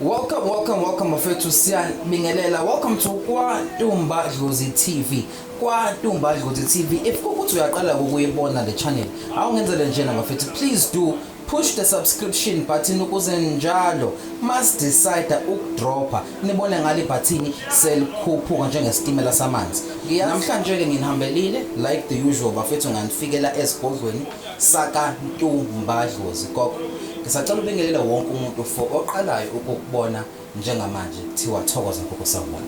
Welcome, welcome, welcome bafethu siyanibingelela. Welcome to KwaNtumba Dlozi TV. KwaNtumba Dlozi TV. If ukuthi uyaqala ukuyibona le channel, awungenzele njena bafethu. Please do push the subscription button ukuze njalo must decide ukudropha nibone ngale bhathini selikhuphuka njengesitimela samanzi. Namhlanje ke nginihambelile like the usual bafethu nganifikela ezigodlweni Saka Ntu Mba Dlozi Gogo ngisacela ubingelele wonke umuntu for oqalayo ukukubona njengamanje kuthiwa thokoza gogo sawubona.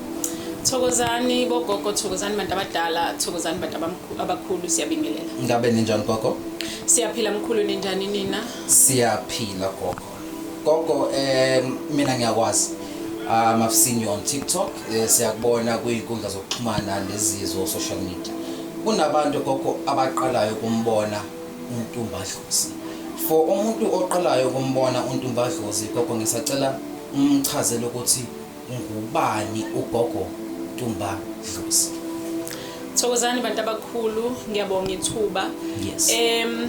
Thokozani bogogo thokozani bantu abadala thokozani bantu abamkhu- abakhulu siyabingelela. Ngabe ninjani gogo? Siyaphila mkhulu ninjani nina? Siyaphila gogo. Gogo um mina ngiyakwazi um I've seen you on TikTok eh, siyakubona kwizinkundla zokuxhumana nezizo social media kunabantu gogo abaqalayo ukumbona uNtumbadlozi for umuntu oqalayo ukumbona uNtumbadlozi gogo ngisacela umchazele ukuthi Ngubani uGogo Tumba Dlozi? Thokozani bantu abakhulu, ngiyabonga ithuba. Yes. Em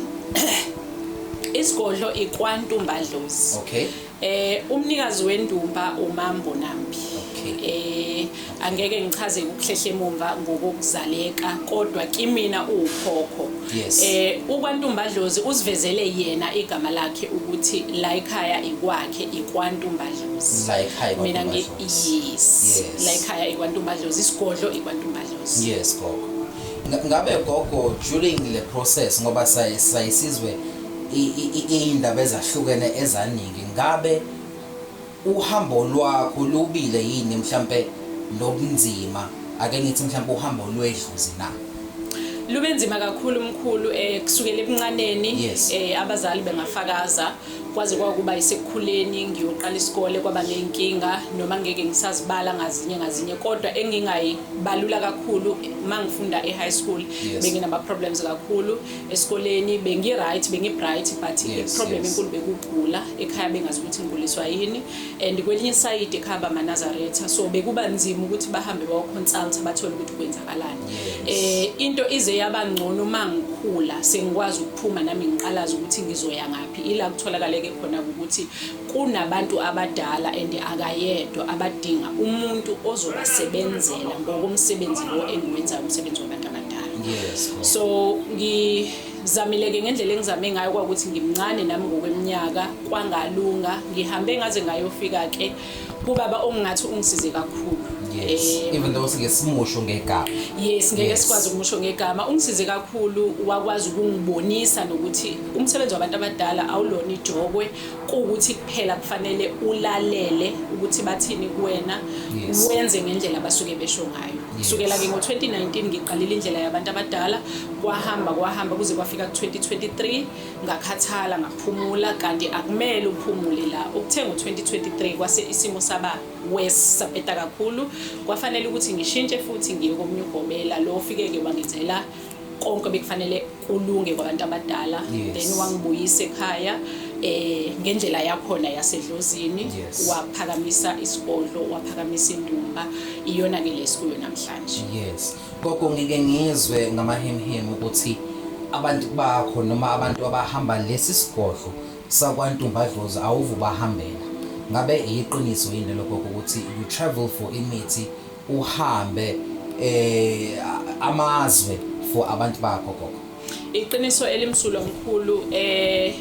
isigodlo ikwantumba dlozi. Okay. Eh umnikazi wendumba uMambo Nambi. Okay. Eh angeke ngichaze ukuhlehle emumva ngokuzaleka kodwa kimina uwukhokho. Yes. Eh ukwantumba dlozi usivezele yena igama lakhe ukuthi la ekhaya ikwakhe ikwantumba mina ngi yes la ekhaya ikwantumbadlozi isigodlo ikwantumbadlozi yes gogo ngabe gogo during le process ngoba sayisizwe iy'ndaba ezahlukene ezaningi ngabe uhambo lwakho lubile yini mhlampe lobunzima ake ngithi mhlampe uhambo lwedluzi na lube nzima kakhulu mkhulu eh kusukela ebuncaneni eh abazali bengafakaza kwaze kwakuba isekukhuleni ngiyoqala isikole kwaba ney'nkinga noma ngeke ngisazibala ngazinye ngazinye kodwa engingayibalula kakhulu uma ngifunda e-high school yes. benginama-problems kakhulu esikoleni bengi-right bengi-bright but yes, i-problem enkulu yes. bekugula ekhaya bengazi ukuthi ngiguliswa yini and kwelinye isayidi ekhaya bamanazaretha so bekuba nzima ukuthi bahambe bawoconsulta bathole ukuthi kwenzakalani um yes. eh, into ize yaba ngcono uma ngikhula sengikwaz Phuma nami ngiqalaza ukuthi ngizoya ngaphi ila kutholakaleke khona ukuthi kunabantu abadala and akayedwa abadinga umuntu ozobasebenzela ngokomsebenzi lo engiwenzayo umsebenzi wabantu abadala yes. so ngi zamileke ngendlela engizame ngayo kwakuthi ngimncane nami ngokweminyaka kwangalunga ngihambe ngaze ngayofika ke kubaba ongingathi ungisize kakhulu yes eh, even though sike simusho ngegama yes ngeke sikwazi ukumusho ngegama ungisize kakhulu wakwazi ukungibonisa nokuthi umsebenzi wabantu abadala awulona ijokwe ukuthi kuphela kufanele ulalele ukuthi bathini kuwena wenze ngendlela abasuke besho ngayo kusukela ke ngo-2019 ngiqalile indlela yabantu abadala kwahamba kwahamba kuze kwafika ku-2023 ngakhathala ngaphumula kanti akumele uphumule la ukuthe ngo-2023 kwase isimo saba worse sapeta kakhulu kwafanele ukuthi ngishintshe futhi ngiye komunye ugobela lo ofike-ke wangenzela konke bekufanele kulunge kwabantu abadala yes. then wangibuyisa ekhaya eh ngendlela yakhona yasedlozini yes. waphakamisa isigodlo waphakamisa indumba iyona ke lesikuyo namhlanje yes Gogo ngike ngizwe ngamahemhemu ukuthi abantu bakho noma abantu abahamba lesi sigodlo sakwantumbadlozi awuvu bahambela ngabe iyiqiniso yini lokho ukuthi you travel for imithi uhambe eh amazwe for abantu bakho gogo Iqiniso elimsulwa mkhulu eh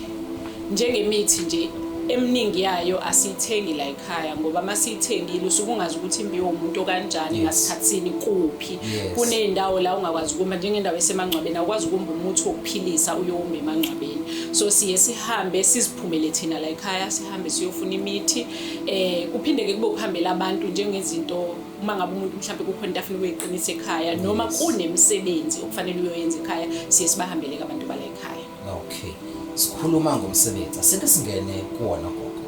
njengemithi nje eminingi yayo asiyithengi la ekhaya ngoba uma siyithengile usuke ungazi ukuthi imbiwe umuntu okanjani ngasikhathini kuphi kuney'ndawo la ungakwazi ukuma njengendawo esemangcwabeni awukwazi ukumba umuthi wokuphilisa uyowuma emangcwabeni so siye sihambe siziphumele thina la ekhaya sihambe siyofuna imithi um kuphinde-ke kube ukuhambela abantu njengezinto uma ngabe umuntu mhlawumbe kukhona into afuna ukuyiqinisa ekhaya noma kunemisebenzi okufanele uyoyenza ekhaya siye sibahambeleke abantu bala ekhaya okay sikhuluma ngomsebenzi asike singene kuwona gogo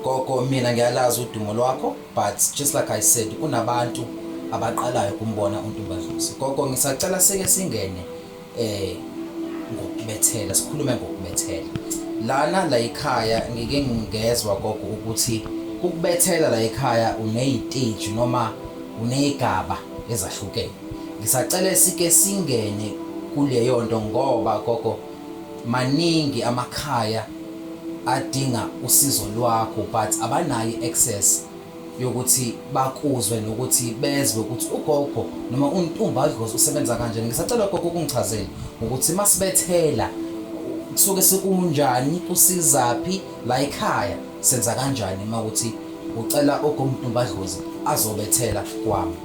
gogo mina ngiyalazi udumo lwakho but just like i said kunabantu abaqalayo kumbona untumbadlusi gogo ngisacela sike singene eh ngokubethela sikhulume ngokubethela lana la ekhaya ngike ngingezwa gogo ukuthi ukubethela la ekhaya uneyiteji noma uneyigaba ezahlukene ngisacela sike singene kuleyo nto ngoba gogo maningi amakhaya adinga usizo lwakho but abanayo access yokuthi bakuzwe nokuthi bezwe ukuthi ugogo noma untumba adlozi usebenza kanjani ngisacela gogo ukungichazela ukuthi masibethela kusuke sekunjani usizaphi la ekhaya senza kanjani uma ukuthi ucela ogomtumba adlozi azobethela kwami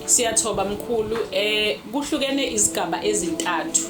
siyathoba mkhulu eh kuhlukene izigaba ezintathu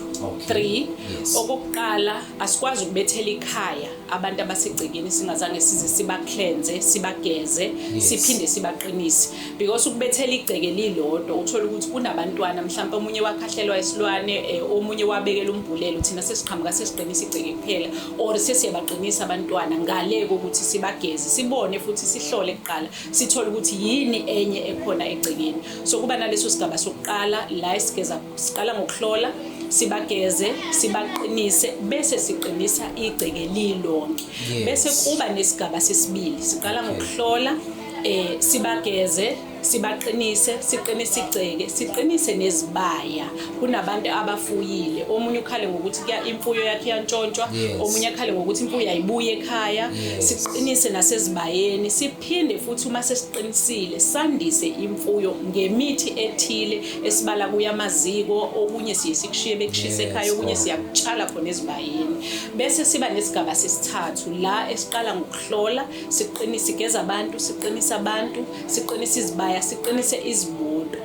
3 yes. okokuqala Asikwazi ukubethela ikhaya abantu abasegcekeni singazange size sibaklenze, sibageze, yes. siphinde sibaqinise because ukubethela igceke lilodwa uthola ukuthi kunabantwana mhlawumbe omunye wakhahlelwa isilwane eh, omunye wabekela umbhulelo thina sesiqhamuka sesiqinisa igceke kuphela or sesiyabaqinisa abantwana ngale kokuthi sibageze sibone futhi sihlole kuqala sithole ukuthi yini enye ekhona egcekeni so kuba naleso sigaba sokuqala la esigeza Siqala ngokuhlola, sibageze, sibaqinise bese siqinisa igceke lilonke. Yes. Bese kuba nesigaba sesibili. Siqala ngokuhlola, eh sibageze, sibaqinise siqinise igceke siqinise nezibaya kunabantu abafuyile omunye ukhale ngokuthi kuya imfuyo yakhe iyantshontshwa omunye akhale ngokuthi imfuyo ayibuye ekhaya siqinise nasezibayeni Phinde futhi uma sesiqinisile sandise imfuyo ngemithi ethile esibala kuya amaziko okunye siye sikushiye bekushise ekhaya okunye siyakutshala khona ezibayeni bese siba nesigaba sesithathu la esiqala ngokuhlola siqinise igeza abantu siqinise abantu siqinise izibaya siqinise izimoto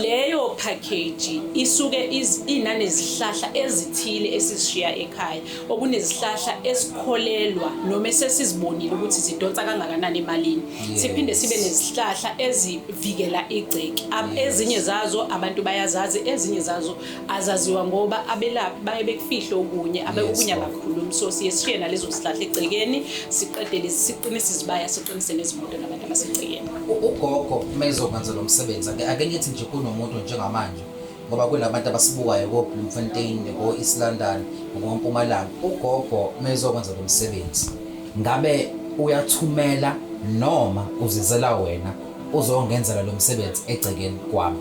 leyo package isuke inane zihlahla ezithile esishiya ekhaya okunezihlahla esikholelwa noma esesizibonile ukuthi zidonsa kangakanani emalini siphinde sibe nezihlahla ezivikela igceki ezinye zazo abantu bayazazi ezinye zazo azaziwa ngoba abelaphi baye bekufihle okunye abekukunye abakhulumi so siye sishiye nalezo zihlahla egcekeni siqedele siqinise izibaya siqinise nezimoto nabantu abasegcekeni ugogo uma ezokwenza lo msebenzi ake ngithi nje kunomuntu njengamanje ngoba kunabantu abasibukayo ko-Bloemfontein, ko-East London, ngoMpumalanga. Ugogo mezokwenza lo msebenzi, ngabe uyathumela noma uzizela wena uzongenzela lo msebenzi egcekeni kwami?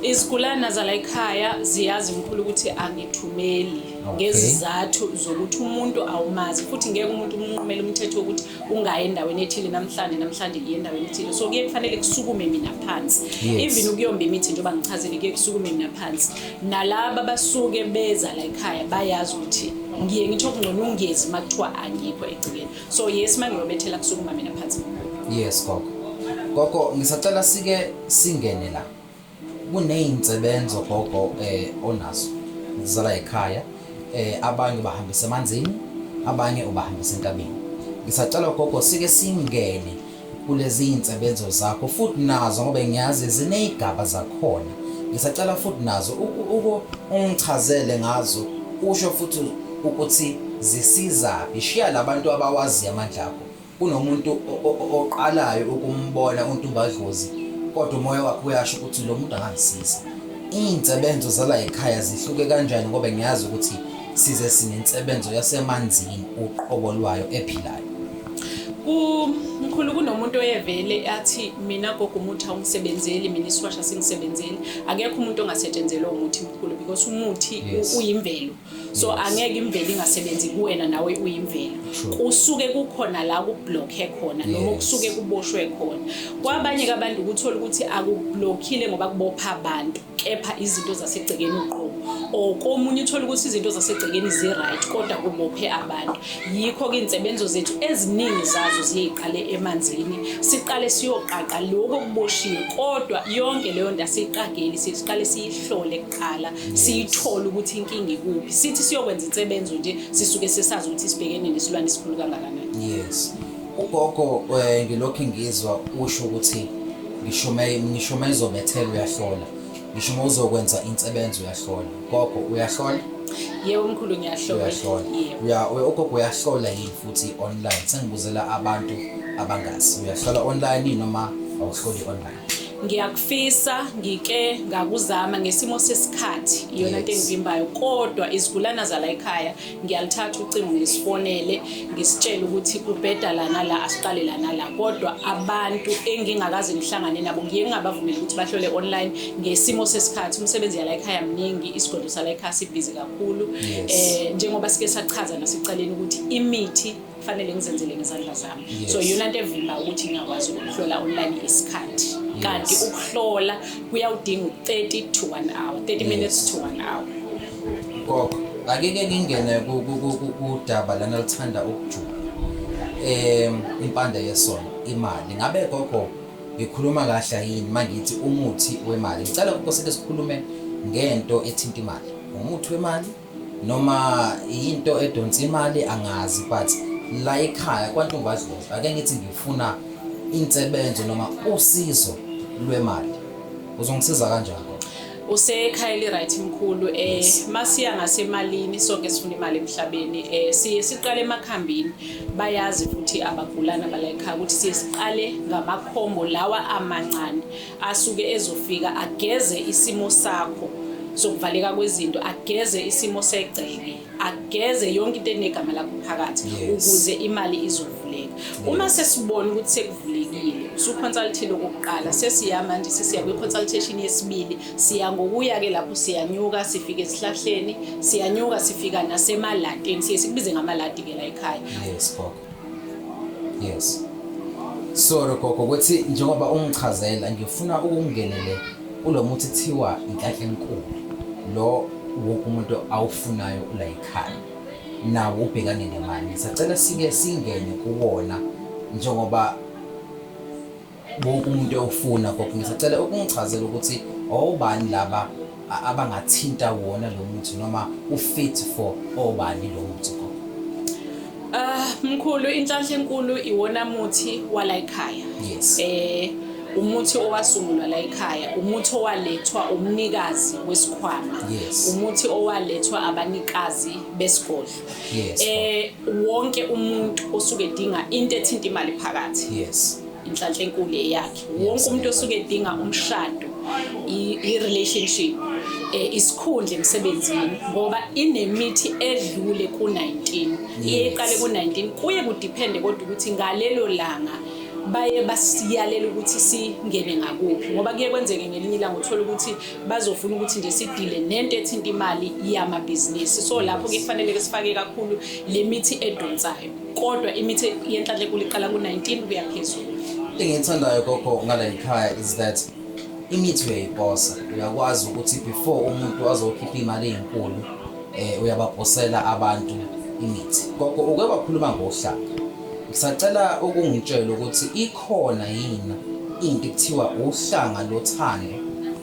Izigulana zala ekhaya ziyazi mkhulu ukuthi angithumeli ngezizathu zokuthi umuntu awumazi futhi ngeke umuntu umnqumele umthetho wokuthi ungayi endaweni ethile namhlanje namhlanje ngiye endaweni ethile so kuye kufanele kusukume mina phansi even ukuyomba imithi njengoba ngichazile kuye kusukume mina phansi nalaba basuke beza la ekhaya bayazi ukuthi ngiye ngitho kungcono ungezi uma kuthiwa angikho egcikeni so yes uma ngiyobethela kusukuma mina phansi yes gogo gogo ngisacela sike singene la Kuney'nsebenzo gogo um onazo zala yikhaya um abanye ubahambisa emanzini abanye ubahambisa enkabeni. Ngisacela gogo sike singene kulezi iy'nsebenzo zakho futhi nazo ngoba ngiyazi ziney'gaba zakhona. Ngisacela futhi nazo uku ungichazele ngazo usho futhi ukuthi zisizaphi. Shiya labantu abawaziyo amandla akho Kunomuntu oqalayo ukumbona uNtumbadlozi kodwa umoya wakhe uyasho ukuthi lo muntu angangisiza. Iy'nsebenzo zala ekhaya zihluke kanjani ngoba ngiyazi ukuthi size sinensebenzo yasemanzini uqobo lwayo ephilayo. Mkhulu kunomuntu oyevele athi mina gogo umuthi awungisebenzeli mina isiwasha singisebenzeli akekho umuntu ongasetshenzelwa umuthi mkhulu because umuthi uyimvelo so angeke imvelo ingasebenzi kuwena nawe uyimvelo kusuke kukhona la kublockhe khona noma kusuke kuboshwe khona kwabanye abantu ukuthola ukuthi akublockile ngoba kubopha abantu kepha izinto zasegcekeni uqobo or komunye uthola ukuthi izinto zasegcekeni zi-right kodwa kubophe abantu yikho-ke iy'nsebenzo zethu eziningi zazo ziyeyiqale emanzini siqale siyoqaqa lokho okuboshiwe kodwa yonke leyo nto asiyiqageli siqale siyihlole qala siyithole ukuthi inkinga ikuphi sithi siyokwenza insebenzo nje sisuke sesazi ukuthi sibhekene nesilwane esikhulu kangakanani yes ugogo eh, ngilokhu ngizwa usho ukuthi ngishume ngishume izobethela uyahlola ngisho uma uzokwenza insebenzo uyahlola gogo uyahlola yebo mkhulu ngiyahlola uyahlola ugogo uyahlola yini futhi online sengibuzela abantu abangazi uyahlola online noma awuhloli online ngiyakufisa ngike ngakuzama ngesimo sesikhathi iyona nto engivimbayo kodwa izigulana zala ekhaya ngiyalithatha ucingo ngisifonele ngisitshele ukuthi kubheda lana la asiqale lana la kodwa abantu engingakaze ngihlangane nabo ngiye ngingabavumeli ukuthi bahlole online ngesimo sesikhathi umsebenzi yala ekhaya mningi isigodlo sala ekhaya sibhizi kakhulu um njengoba sike sachaza nasekuqaleni ukuthi imithi kufanele ngizenzele ngezandla zami yes. so yona nto evimba ukuthi ngingakwazi ukuhlola online isikhathi yes. kanti ukuhlola kuyawudinga u-30 to 1 hour 30 yes. minutes to 1 hour gogo akeke ngingene kudaba lana lithanda ukujula um impanda yesona imali ngabe gogo ngikhuluma kahle yini uma ngithi umuthi wemali ngicela ukoseke sikhulume ngento ethinta imali umuthi wemali Noma yinto edonsa imali angazi but la ekhaya kwantumbadlovu ake ngithi ngifuna insebenzo noma usizo lwemali uzongisiza kanjani usekhaya eliryt mkhulu um eh, masiya ngasemalini sonke sifuna imali emhlabeni um siye siqale emakhambini bayazi futhi abagulana balayikhaya ukuthi siye siqale ngamakhombo lawa amancane asuke ezofika ageze isimo sakho sokuvaleka kwezinto ageze isimo segceke ageze yonke into enegama lakho phakathi ukuze imali izovuleka uma sesibona ukuthi sekuvulekile usuconsultile okokuqala sesiya manje sesiya kwi-consultation yesibili siya ngokuya-ke lapho siyanyuka sifike esihlahleni siyanyuka sifika nasemalatini siye sikubize ngamalati-ke la ekhaya yes sorry gogo ukuthi njengoba ungichazela ngifuna ukungenele kulo muthi thiwa inhlanhla enkulu lo wonke umuntu awufunayo ula yikhaya nawo ubhekane nemali sacela sike singene kuwona njengoba wonke umuntu ewufuna gogo ngisacela ukungichazela ukuthi obani laba abangathinta wona lo muthi noma ufit for obani lo muthi gogo ah mkhulu inhlanhla enkulu iwona muthi wala ekhaya yes eh umuthi owasungulwa la ekhaya umuthi owalethwa umnikazi wesikhwama yes. umuthi owalethwa abanikazi besigodlo yes, eh wonke umuntu osuke edinga into ethinta imali phakathi yes inhlanhla enkulu eyakhe wonke umuntu osuke edinga umshado i-relationship eh, isikhundla emsebenzini ngoba inemithi edlule ku-19 iye iqale ku-19 kuye kudiphende kodwa ukuthi ngalelo langa baye basiyalela ukuthi singene ngakuphi ngoba kuye kwenzeke ngelinye ilanga uthole ukuthi bazofuna ukuthi nje sidile nento ethinta imali yamabhizinisi so lapho ke kufanele ke sifake kakhulu le mithi edonsayo kodwa imithi yenhlanhla enkulu iqala ku-19 kuya phezulu into engiyithandayo gogo ngala yikhaya is that imithi uyayiposa uyakwazi ukuthi before umuntu azokhipha imali eyinkulu um uyabaposela abantu imithi gogo uke wakhuluma ngohlanga ngisacela ukungitshela ukuthi Khona yini into ekuthiwa uhlanga lothando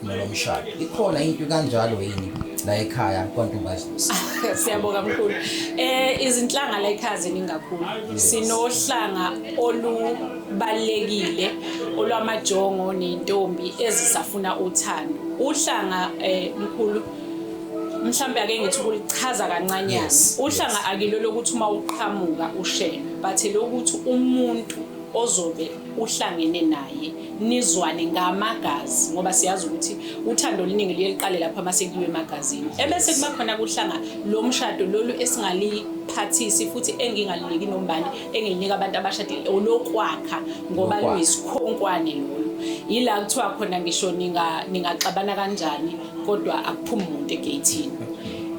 nolomshado? Ikhona into kanjalo yini la ekhaya kwaNtombazisa? Siyabonga mkhulu. Eh izinhlanga la ekhaya ziningi kakhulu. Sinohlanga olubalekile olwamajongo nentombi ezisafuna uthando. Uhlanga eh mkhulu mhlambe ake ngithi ukulichaza kancanyana. Uhlanga akilo lokuthi uma uqhamuka ushela, but lokuthi umuntu ozobe uhlangene naye nizwane ngamagazi ngoba siyazi ukuthi uthando oluningi luye luqale lapho uma sekuyiwe emagazini ebese kuba khona kuhlanga lo mshado lolu esingaliphathisi futhi engingaliniki nombani engilinika abantu abashadile olokwakha ngoba luyisikhonkwane lolu yila kuthiwa khona ngisho ningaxabana kanjani kodwa akuphumi umuntu egeyithini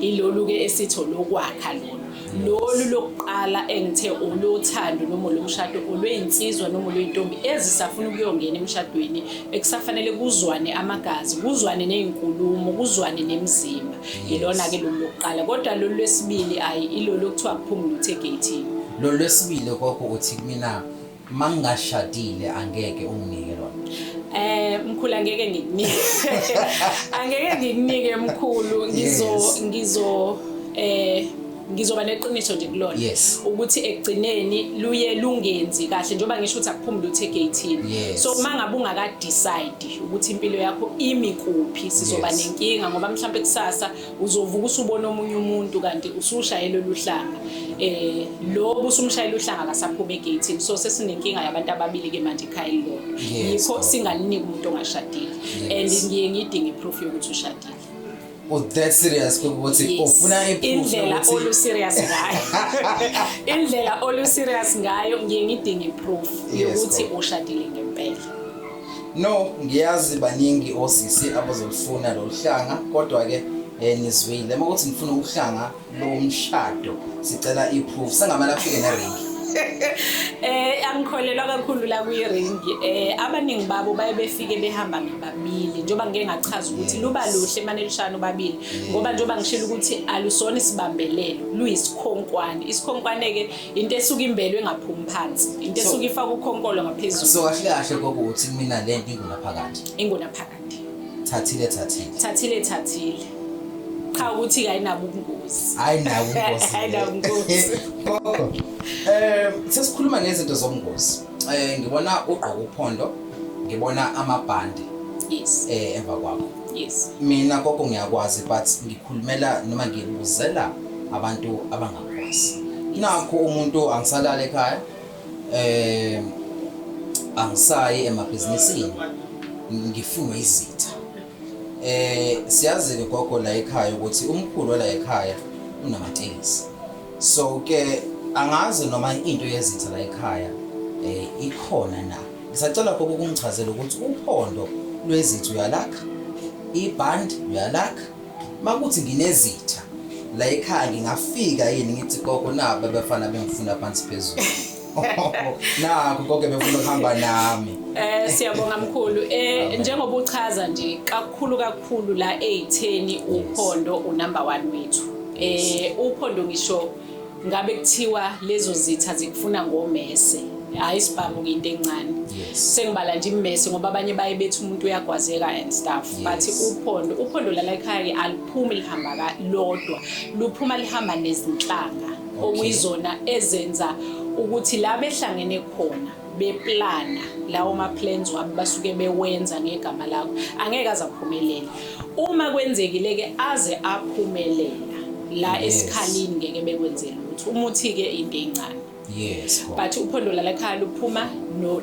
ilolu-ke esitho lokwakha lolu lolu lokuqala engithe olothando noma olomshado olweyinsizwa noma olweyintombi ezisafuna ukuyongena emshadweni ekusafanele kuzwane amagazi kuzwane nezinkulumo kuzwane nemizimba yilona ke lolu lokuqala kodwa lolu lwesibili ayi ilolu okuthiwa kuphumula uthe gate lolu lwesibili koko uthi mina mangingashadile angeke unginike lona Eh mkhulu angeke ngikunike. Angeke ngikunike mkhulu ngizo ngizo eh ngizoba neqiniso nje kulona yes. ukuthi ekugcineni luye lungenzi kahle njengoba ngisho ukuthi akuphumule uthe gathini yes. so uma ngabe ungakadecide ukuthi impilo yakho imi kuphi sizoba yes. nenkinga ngoba mhlawumbe kusasa uzovuka usubona omunye umuntu kanti usushayela oluhlanga eh lo busumshayela uhlanga akasaphuma egate so sesinenkinga yabantu ababili ke manje ekhaya elilodwa yikho singaliniki umuntu ongashadile and ngiye ngidinge proof yokuthi ushadile u oh, that serious ukuthi ufuna indlela olu serious ngayo indlela olu serious ngayo ngiye ngidinge proof yokuthi ushadile ngempela No, ngiyazi baningi osisi abazolufuna lolu hlanga kodwa-ke um nizwile uma ukuthi ngifuna ukuhlanga lomshado sicela i-proof sengamele afike neringi eh angikholelwa kakhulu la kwi-ring eh abaningi babo baye befike behamba ngababili njengoba ngike ngachaza ukuthi luba luhle mane lushana ubabili ngoba njengoba ngishilo ukuthi alusona isibambelelo luyisikhonkwane isikhonkwane-ke into esuke imbelwe ngaphumi phansi into esuke ifaka ukhonkolo ngaphezulu so kahle kahle kokuthi mina le nto ingunaphakade ingunaphakade thathile thathile thathile thathile cha ukuthi kayinabo ubungozi ayinabo ubungozi ayinabo ubungozi eh sesikhuluma ngezinto zobungozi eh ngibona ugqoka uphondo ngibona amabhande yes eh emva kwakho yes mina gogo ngiyakwazi but ngikhulumela noma ngibuzela abantu abanga nakho umuntu angisalale ekhaya eh angisayi emabhizinisini ngifunwe izitha eh siyazi ke gogo la ekhaya ukuthi umkhulu la ekhaya unamatekisi so ke angazi noma into yezitha la ekhaya eh ikhona na ngisacela gogo kungichazela ukuthi uphondo lwezitha uyalakha iband uyalakha Makuthi nginezitha la ekhaya ngingafika yini ngithi gogo nabo abafana bengifuna phansi phezulu. Nakho konke befuna ukuhamba nami. Eh siyabonga mkhulu. Eh njengoba uchaza nje kakhulu kakhulu la ezitheni uphondo unumber 1 wethu. Eh uphondo ngisho Ngabe kuthiwa lezo zitha zikufuna ngomese. Hayi sibhamu kuyinto encane. Yes. Sengibala nje imese ngoba abanye baye bethi umuntu uyagwazeka and stuff. Yes. Bathi uphondo, uphondo lala ekhaya ke aliphumi lihamba ka lodwa. Luphuma lihamba nezinhlanga Okay. okuyizona ezenza ukuthi la behlangene khona beplana lawo ma-plans wabo basuke bewenza ngegama lakho angeke aze aphumelele uma kwenzekile-ke aze aphumelela la yes. esikhalini ngeke bekwenzela ukuthi umuthi-ke into encane yes but uphondo lalakhaya luphuma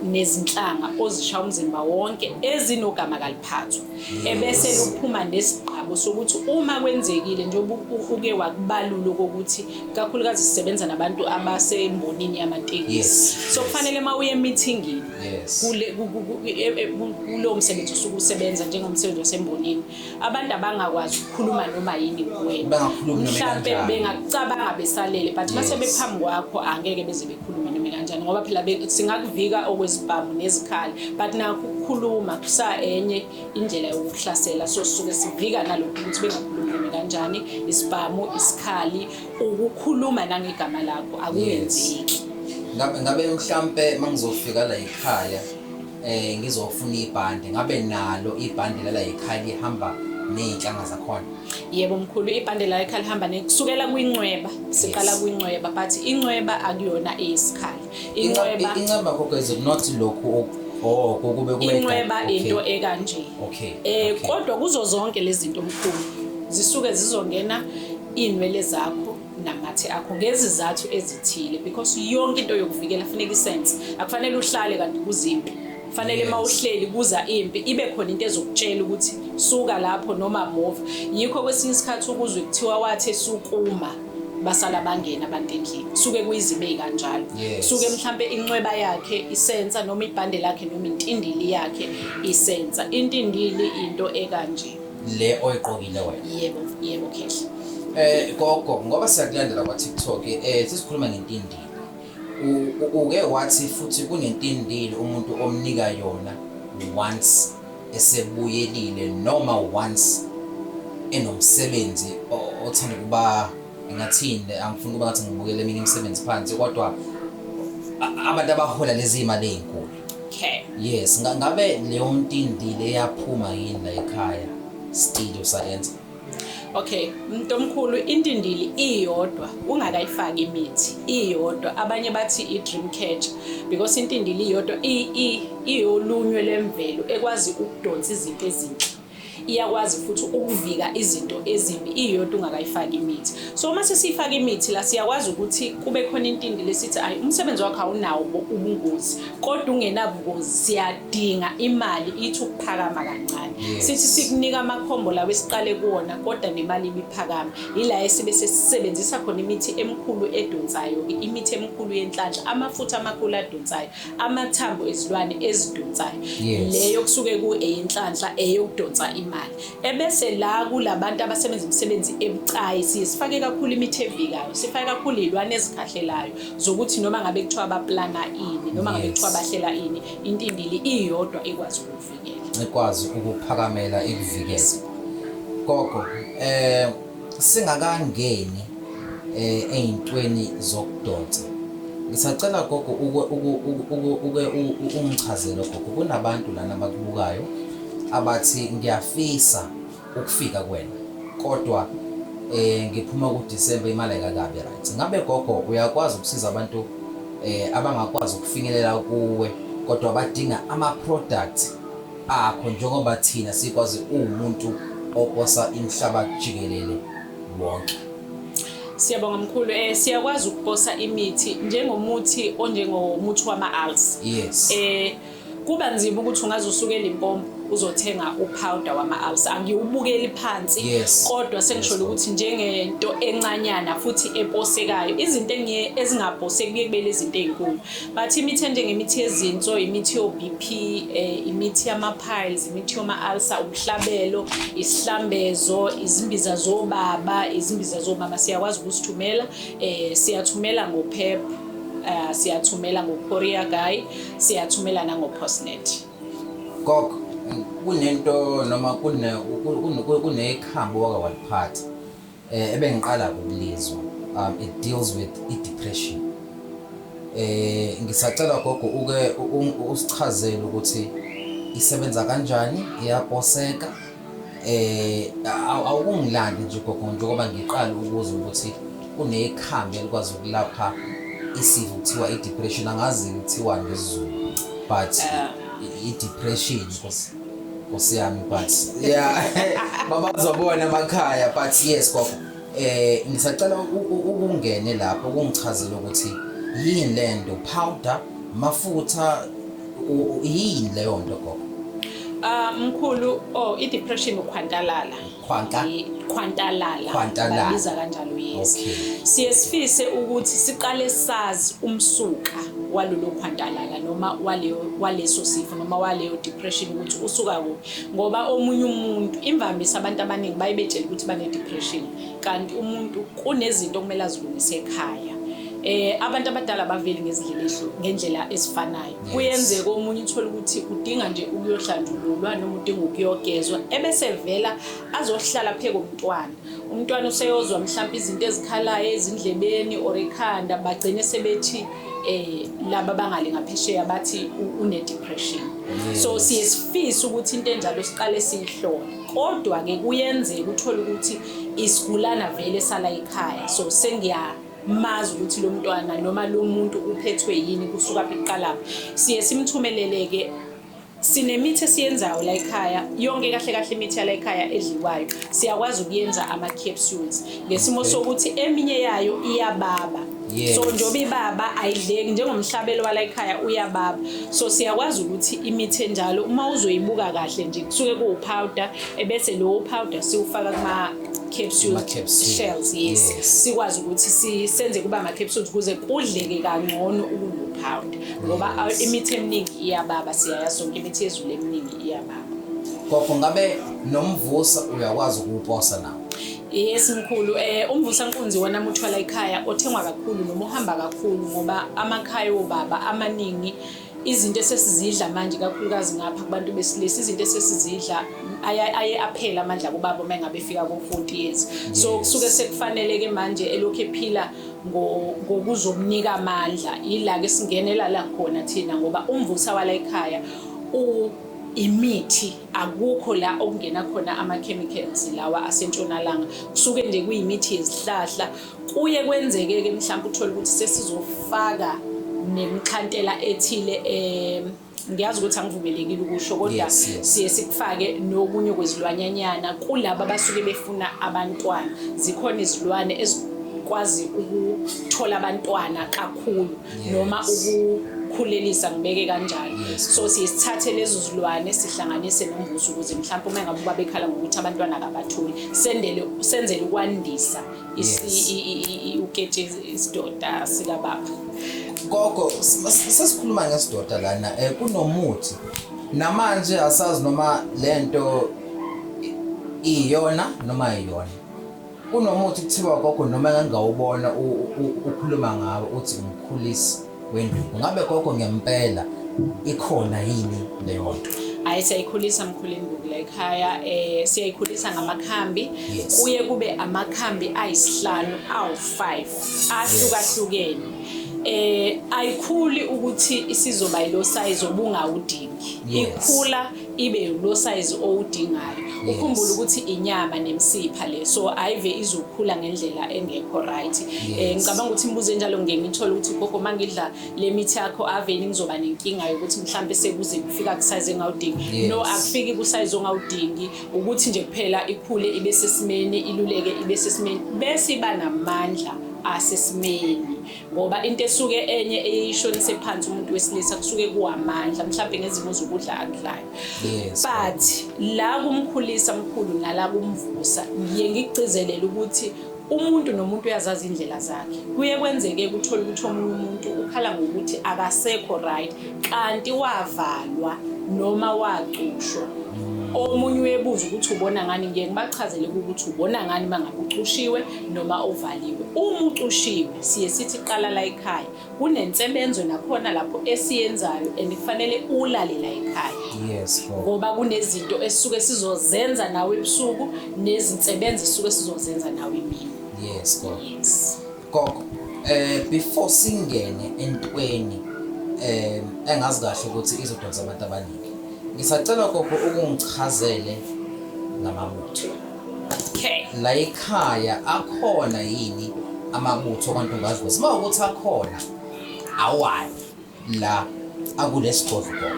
nezinhlanga ozisha umzimba wonke ezinogama kaliphathwa ebese luphuma nesigqabo sokuthi uma kwenzekile njengoba uke wakubalula kokuthi kakhulukazi sisebenza nabantu abasembonini yamatekisi so kufanele uma uye emithingini kulowo msebenzi osuke usebenza njengomsebenzi wasembonini abantu abangakwazi ukukhuluma noma yini kuwena mhlampe bengakucabanga besalele but uma sebephambi kwakho angeke beze khuluma noma kanjani ngoba phela singakuvika okwezibhamu nezikhali but nakho ukukhuluma kusa enye indlela yokuhlasela so sisuke sivika nalokhu ukuthi bengakhulumi noma kanjani isibhamu isikhali ukukhuluma nangegama lakho akuyenzeki ngabe mhlampe mangizofika la ekhaya eh ngizofuna ibhande ngabe nalo ibhande lala yikhaya lihamba nezinhlanga zakhona yebo mkhulu ibhande la ekhaya lihamba nekusukela kwincweba siqala kwincweba but incweba akuyona eyisikhala incweba incweba kodwa is not lokho Oh kube kube incweba into ekanje okay eh kodwa kuzo zonke lezi zinto mkhulu zisuke zizongena inwele zakho namathe akho ngezizathu ezithile because yonke into yokuvikela funeka isense akufanele uhlale kanti kuzimpi fanele yes. mawuhleli kuza impi ibe khona into ezokutshela ukuthi suka lapho noma move yikho kwesinye isikhathi ukuzwe kuthiwa wathe sukuma basala bangena abantu endlini suke kuyizibe kanjalo suke mhlambe inxweba yakhe isensa noma ibhande lakhe noma intindili yakhe isensa intindili into ekanje le oyiqokile wena yebo yebo khehla eh gogo ngoba siyakulandela kwa TikTok eh sisikhuluma ngentindile U- u- uke wathi futhi kunentindile umuntu omnika yona once esebuyelile noma once enomsebenzi o- othanda ukuba ngathini angifuni ukuba ngathi ngibukele eminye imisebenzi phansi kodwa a- abantu abahola lezi imali ezinkulu Okay. Yes, nga- ngabe leyo ntindi leyaphuma yini la ekhaya still usayenza. Okay, umuntu omkhulu intindili iyodwa ungakayifaki imithi iyodwa abanye bathi i dream catcher because intindili iyodwa i- i- iyolunywe lemvelo ekwazi ukudonsa izinto ezinhle. iyakwazi futhi ukuvika izinto ezimbi iyodwa ungakayifaki imithi so uma sesiyifaka imithi la siyakwazi ukuthi kube khona intindi lesithi ayi umsebenzi wakho awunawo ubungozi kodwa ungenabungozi siyadinga imali ithi ukuphakama kancane sithi sikunika amakhombo lawo esiqale kuwona kodwa nemali ibiphakama yila esibe sesisebenzisa khona imithi emikhulu edonsayo imithi emikhulu yenhlanhla amafutha amakhulu adonsayo amathambo ezilwane ezidonsayo yes. leyo kusuke kueyinhlanhla eyokudonsa imali ebese la kulabantu abasebenza imisebenzi ebucayi siye sifake kakhulu imithi evikayo sifake kakhulu izilwane ezikhahlelayo zokuthi noma ngabe kuthiwa abaplana ini noma ngabe kuthiwa bahlela ini intindili iyodwa ekwazi ukuvikela ekwazi ukuphakamela ikuvikela gogo eh Singakangeni eh ezintweni zokudonsa. Ngisacela gogo uke uke ungichazele gogo kunabantu lana abakubukayo abathi ngiyafisa ukufika kuwena kodwa eh ngiphuma ku December imali ayikakabi right. Ngabe gogo uyakwazi ukusiza abantu eh abangakwazi ukufinyelela kuwe kodwa badinga ama product akho njengoba thina sikwazi uwumuntu oposa imhlaba jikelele wonke. Siyabonga mkhulu eh siyakwazi ukuposa imithi njengomuthi onjengomuthi wama-alls. Yes. Eh kuba nzima ukuthi ungaze usukele impompo uzothenga upowder wama-alls angiwubukeli phansi Yes. kodwa sengisholo Yes, ukuthi njengento encanyana futhi eposekayo izinto engiye ezingaposeki kuye kube lezinto ey'nkulu But imithi enjengemithi yezinso, imithi yo-BP, eh, imithi yama-piles, imithi yoma-ulcer, umhlabelo, isihlambezo, izimbiza zobaba, izimbiza zomama siyakwazi ukusithumela. Eh, siyathumela ngoPEP, eh, siyathumela ngoCourier Guy, siyathumela nangoPostnet. Gogo, kunento noma kune kunekhambo wake waliphatha Eh ebengiqala ukulizwa um it deals with i depression. Eh ngisacela gogo uke usichazele ukuthi isebenza kanjani iyaposeka eh awukungilandi nje gogo njengoba ngiqala ukuze ukuthi kunekhambi elikwazi ukulapha isifo kuthiwa i depression angazi kuthiwa ngesiZulu but eh. i depression Nkosi yami but yeah babazobona emakhaya but yes gogo eh ngisacela ukungene lapho kungichazela ukuthi yini lento powder mafutha yini leyo nto gogo Ah mkhulu oh i depression ukhwantalala Khwanta khwantalala khwantalala babiza kanjalo yes okay. siye sifise ukuthi siqale sazi umsuka walolo khwantalala noma waleyo waleso sifo noma waleyo depression ukuthi usuka kuphi ngoba omunye umuntu imvamisa abantu abaningi bayebetshela ukuthi bane depression kanti umuntu kunezinto okumele azilungise ekhaya eh abantu abadala baveli ngezindlela ngendlela ezifanayo kuyenzeka omunye uthole ukuthi udinga nje ukuyohlanjululwa noma udinga ukuyogezwa ebese vela azohlala pheke umntwana umntwana useyozwa mhlawumbe izinto ezikhalayo ezindlebeni or ekhanda bagcine sebethi eh laba bangale ngaphesheya bathi une depression so siye sifisa ukuthi into enjalo siqale siyihlole kodwa ke kuyenzeka uthole ukuthi isigulana vele sala ekhaya so sengiya mazi ukuthi lo mntwana noma lo muntu uphethwe yini kusuka phi kuqalapho siye simthumeleleke sinemithi esiyenzayo la ekhaya yonke kahle kahle imithi yala ekhaya edliwayo siyakwazi ukuyenza ama-capsules ngesimo sokuthi eminye yayo iyababa Yes. so njengoba ibaba ayidleki njengomhlabelo wala ekhaya uyababa so siyakwazi ukuthi imithi enjalo uma uzoyibuka kahle nje kusuke kuwupowder ebese lowo powder siwufaka kuma capsule Ama capsule. shells yes, Yes. sikwazi ukuthi si- senze kuba ama capsules kuze kudleke kangcono ukunopowder ngoba a- imithi eminingi iyababa siyaya sonke imithi yezulu eminingi iyababa gogo ngabe nomvusa uyakwazi ukuwuposa nawo yes mkhulu eh umvusa nkunzi wona muthwala ekhaya othengwa kakhulu noma uhamba kakhulu ngoba amakhaya obaba amaningi izinto esesizidla manje kakhulukazi ngapha kubantu besilisa izinto esesizidla aye aphela amandla kubaba uma engabe efika ko-40 years so kusuke sekufanele-ke manje elokhu ephila ngokuzomnika amandla yila-ke singenela la khona thina ngoba umvusa wala ekhaya imithi akukho la okungena khona ama-chemicals lawa asentshonalanga kusuke nje kuyimithi yezihlahla Kuye kwenzeke-ke mhlawumbe uthole ukuthi sesizofaka nemkhantela ethile um ngiyazi ukuthi angivumelekile ukusho kodwa siye sikufake nokunye kwezilwanyanyana kulaba abasuke befuna abantwana zikhona izilwane ezikwazi ukuthola abantwana kakhulu noma ukukhulelisa ngibeke kanjalo so siye sithathe lezo zilwane sihlanganise nombuso ukuze mhlawumbe uma ngabe ubabekhala ngokuthi abantwana akabatholi sendele senzele ukwandisa uketshezi isidoda sikababa gogo sesikhuluma ngesidoda lana um kunomuthi namanje asazi noma le nto iyona noma iyona kunomuthi kuthiwa gogo noma engangawubona ukhuluma ngawo uthi umkhulisi wenduku ngabe gogo ngempela ikhona yini leyo nto hayi siyayikhulisa mkhulu induku la ekhaya um siyayikhulisa ngamakhambi kuye kube amakhambi ayisihlanu awu-five ahlukahlukene eh ayikhuli ukuthi isizoba yilo size obungawudingi ikhula ibe ulosayizi owudingayo ukhumbule ukuthi inyama nemsipha le so ayive izokhula ngendlela engekho right eh ngicabanga ukuthi imibuzo enjalo ngeke ngithole ukuthi gogo mangidla le mithi yakho aveni ngizoba nenkinga yokuthi mhlambe sekuze kufika kusize engawudingi no akufiki kusize ongawudingi ukuthi nje kuphela ikhule ibe sesimeni iluleke ibe sesimeni bese iba namandla asesimeni ngoba into esuke enye eyishonise phansi umuntu wesilisa kusuke kuwamandla mhlawumbe ngezimo zokudla akudlayo but la kumkhulisa mkhulu nala kumvusa ngiye ngigcizelele ukuthi umuntu nomuntu uyazazi indlela zakhe kuye kwenzeke kuthole ukuthi omunye umuntu ukhala ngokuthi akasekho right kanti wavalwa noma wacushwa omunye uyebuza ukuthi ubona ngani ngiye ngibachazele ukuthi ubona ngani uma ngabe ucushiwe noma ovaliwe. Uma ucushiwe siye sithi qala la ekhaya. Kunensebenzo nakhona lapho esiyenzayo and kufanele ulale la ekhaya. Yes. Ngoba kunezinto esisuke sizozenza nawe ebusuku nezinsebenzo esisuke sizozenza nawe imini. Yes, gogo. Yes. Gogo, eh before singene entweni eh engazi kahle ukuthi izodonsa abantu abaningi. Ngisacela gogo ukungichazele ngamabutho. Okay. La ekhaya akhona yini amabutho kwantombaziwe? Siba ukuthi akhona awani la akulesigodlo.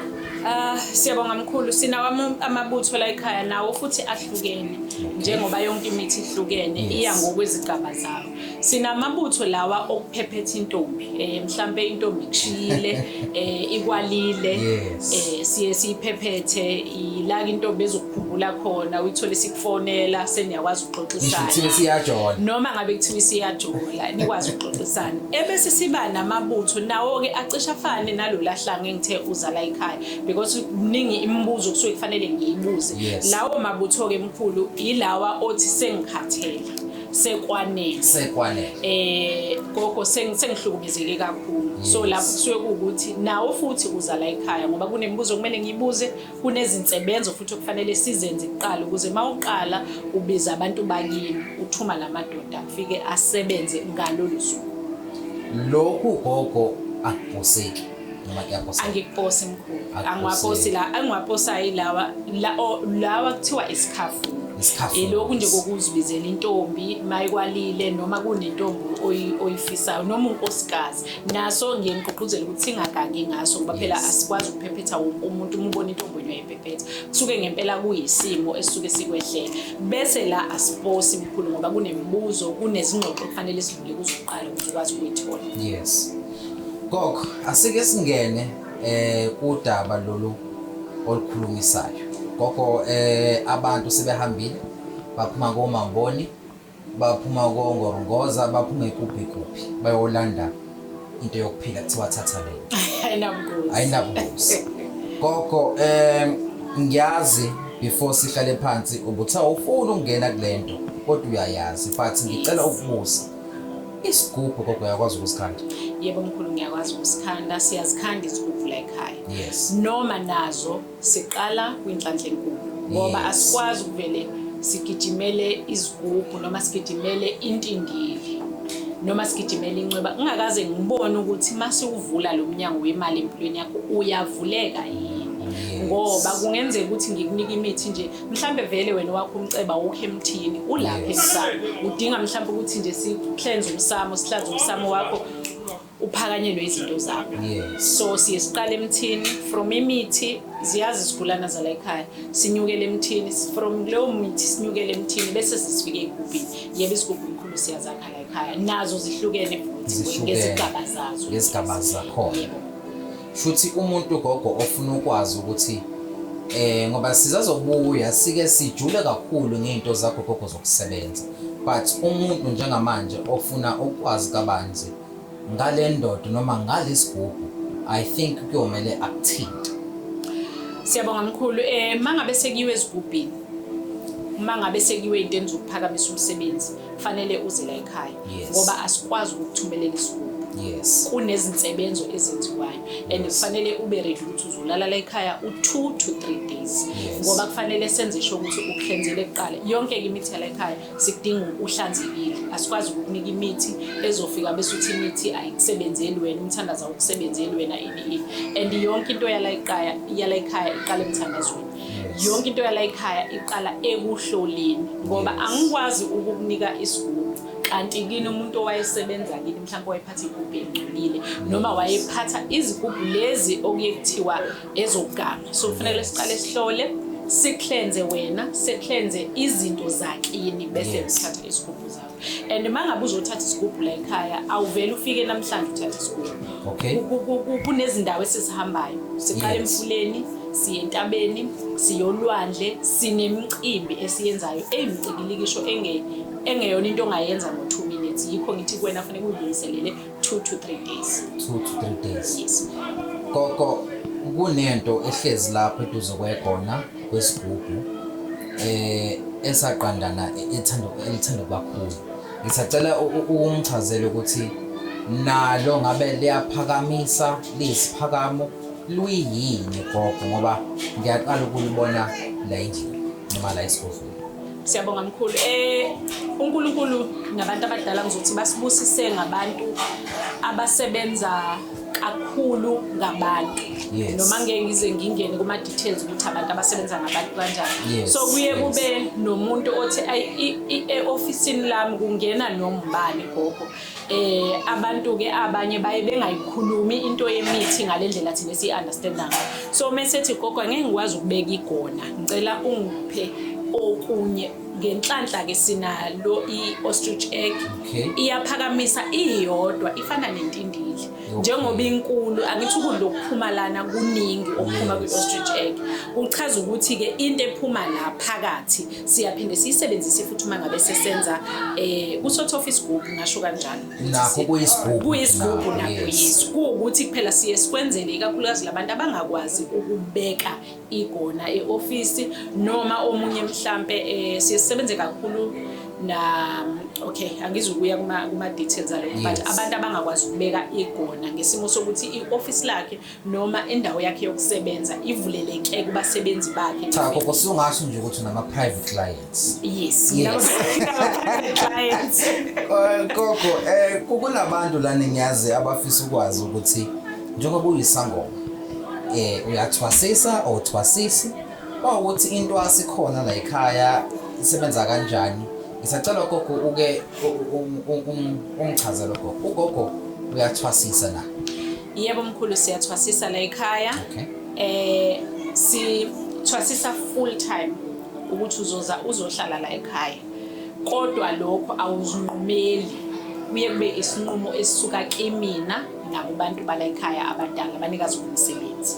Ah uh, siyabonga mkhulu sinawo amabutho la ekhaya nawo futhi ahlukene njengoba yonke imithi ihlukene iya ngokwezigaba zawo. Sinamabutho lawa okuphephetha intombi eh mhlambe intombi kushiyile eh ikwalile eh siye siyiphephethe ilaka intombi ezokukhumbula khona uyithole sikufonela seniyakwazi ukuxoxisana Ngisho siyajola noma ngabe kuthiwa isiyajola nikwazi ukuxoxisana ebese siba namabutho nawo ke acisha afane nalolahlanga engithe uzala ekhaya because kuningi imibuzo kusuke kufanele ngiyibuze lawo mabutho ke mkhulu ilawa othi sengikhathele sekwanele sekwanele eh gogo sengihlukumezeke kakhulu so lapho kusuke kuwukuthi nawo futhi uza la ekhaya ngoba kunemibuzo kumele ngibuze kunezinsebenzo futhi okufanele sizenze kuqala ukuze mawuqala ubiza abantu bakini uthuma lamadoda afike asebenze ngalolu suku lokhu gogo akubhoseki noma kuyaposa angiposi mkhulu angiwaposi la angiwaposayo ilawa lawa kuthiwa isikhafu ilokhu nje kokuzibizela intombi mayikwalile noma kunentombi oyifisayo noma unkosikazi naso ngiye ngigqugquzele ukuthi singagangi ngaso ngoba phela asikwazi ukuphephetha wonke umuntu uma ubona intombi onye uyayiphephetha kusuke ngempela kuyisimo esisuke sikwehlele bese la asiposi mkhulu ngoba kunemibuzo kunezingxoxo kufanele sidlule kuzoqala ukuthi ukwazi ukuyithola yes Gogo, asike singene eh kudaba lolu olukhulumisayo. Gogo eh abantu sebehambile baphuma komamboni baphuma kongorongoza baphuma ekuphi kuphi bayolanda into yokuphila kuthiwa thatha le. Ayinabungozi. Ayinabungozi. Gogo eh ngiyazi before sihlale phansi ubuthi awufuni ukungena kulento kodwa uyayazi but ngicela ukubuza Isigubhu gogo uyakwazi ukusikhanda? Yebo mkhulu ngiyakwazi ukusikhanda, siyazikhanda izigubhu la ekhaya. Yes. Noma nazo siqala kwinhlanhla enkulu ngoba Yes. asikwazi ukuvele sigijimele izigubhu noma sigijimele intindili noma sigijimele incweba ngingakaze ngibone ukuthi uma siwuvula lo mnyango wemali empilweni yakho uyavuleka yini Yes. ngoba kungenzeka ukuthi ngikunike imithi nje mhlambe vele wena wakho umceba wokho emthini ulapha emsamo udinga mhlambe ukuthi nje sihlenze umsamo sihlanze umsamo wakho uphakanyelwe izinto zakho so siye siqale emthini from imithi ziyazi isigulana zala ekhaya sinyukele emthini from leyo mithi sinyukele emthini bese sisifike egubhini yebo isigubhu mkhulu siyazakha la ekhaya nazo zihlukene futhi ngezigaba zazo ngezigaba zakhona shuthi umuntu ugogo ofuna ukwazi ukuthi eh ngoba sizazobuya sike sijule kakhulu ngento zakho gogo zokusebenza but umuntu njengamanje ofuna ukwazi kabanzi ngale ndoda noma ngalesigubhu i think kuyomele akuthinte siyabonga mkhulu eh mangabe sekiwe ezigubhini uma ngabe sekiwe into enizokuphakamisa umsebenzi kufanele uze la ekhaya yes. ngoba asikwazi ukukuthumelela isigubu yes. kunezinsebenzo ezenziwayo and kufanele ube ready ukuthi uzolala la ekhaya u-two to three days yes. ngoba kufanele senze sho ukuthi ukuhlenzele kuqala yonke ke imithi yala ekhaya sikudinga uhlanzekile asikwazi ukukunika imithi ezofika bese uthi imithi ayikusebenzeli wena umthandaza ukusebenzeli wena ini ini and yonke into yala ekhaya yala ekhaya iqala emthandazweni yonke into yala ekhaya iqala ekuhloleni ngoba angikwazi ukukunika isigubo kanti kini umuntu owayesebenza kini mhlawumbe wayephatha igubhu elingcolile noma wayephatha izigubhu lezi okuye kuthiwa ezokugama so kufanele siqale sihlole siklenze wena siklenze izinto zakini bese sithatha isigubhu zakho and uma ngabe uzothatha isigubhu la ekhaya awuvele ufike namhlanje uthathe isigubhu okay kunezindawo esizihambayo siqala emfuleni siye entabeni siyolwandle sinemicimbi esiyenzayo eyimcikilikisho engeyona into ongayenza ngo-two minutes yikho ngithi kuwena funeka uyilungiselele 2 to 3 days 2 to 3 days yes gogo kunento ehlezi lapho eduze kwegona kwesigubhu eh esaqandana ethanda elithanda kakhulu ngisacela ukumchazela ukuthi nalo ngabe liyaphakamisa lisiphakamo luyini gogo ngoba ngiyaqala ukulibona la endlini noma la esigodlweni Siyabonga mkhulu. Eh uNkulunkulu nabantu abadala ngizothi basibusise ngabantu abasebenza kakhulu ngabantu yes. noma ngeke ngize ngingene kuma details ukuthi abantu abasebenza ngabantu kanjani yes. so kuye yes. kube nomuntu othi e office lami kungena nombani gogo eh abantu ke abanye baye bengayikhulumi into yemithi ngalendlela thina si understand ngayo so mesethi gogo ngeke ngikwazi ukubeka igona ngicela ungiphe okunye ngenhlanhla ke sinalo i ostrich egg iyaphakamisa iyodwa ifana nentindili njengoba inkulu angithi ukudla okuphuma lana kuningi okuphuma kwi-ostrich egg kuchaza ukuthi-ke into ephuma la phakathi siyaphinde siyisebenzise futhi uma ngabe sesenza um eh, kusotha off isigubhu ngasho kanjalo kuyisigubhu nakuyisu kuwukuthi kuphela siye sikwenzele ikakhulukazi labantu abangakwazi ukubeka igona eofisi noma omunye mhlampe eh, siye sisebenze kakhulu na okay angizukuya kuma kuma details alo but abantu abangakwazi ukubeka igona ngesimo sokuthi ioffice lakhe noma indawo yakhe yokusebenza ivuleleke kubasebenzi bakhe cha koko sungasho nje ukuthi nama private client Yes, yes. Koko eh kukunabantu lana ngiyazi abafisa ukwazi ukuthi njengoba uyisangoma eh uyathwasisa or thwasisi bawukuthi into asikhona la ekhaya isebenza kanjani ngisacela gogo uke ungichazele gogo ugogo uyathwasisa na yebo mkhulu siyathwasisa la ekhaya okay eh si thwasisa full time ukuthi uzoza uzohlala la ekhaya kodwa lokho awuzinqumeli kuye kube isinqumo esisuka kimina nakubantu bala ekhaya abadala abanikazi bomsebenzi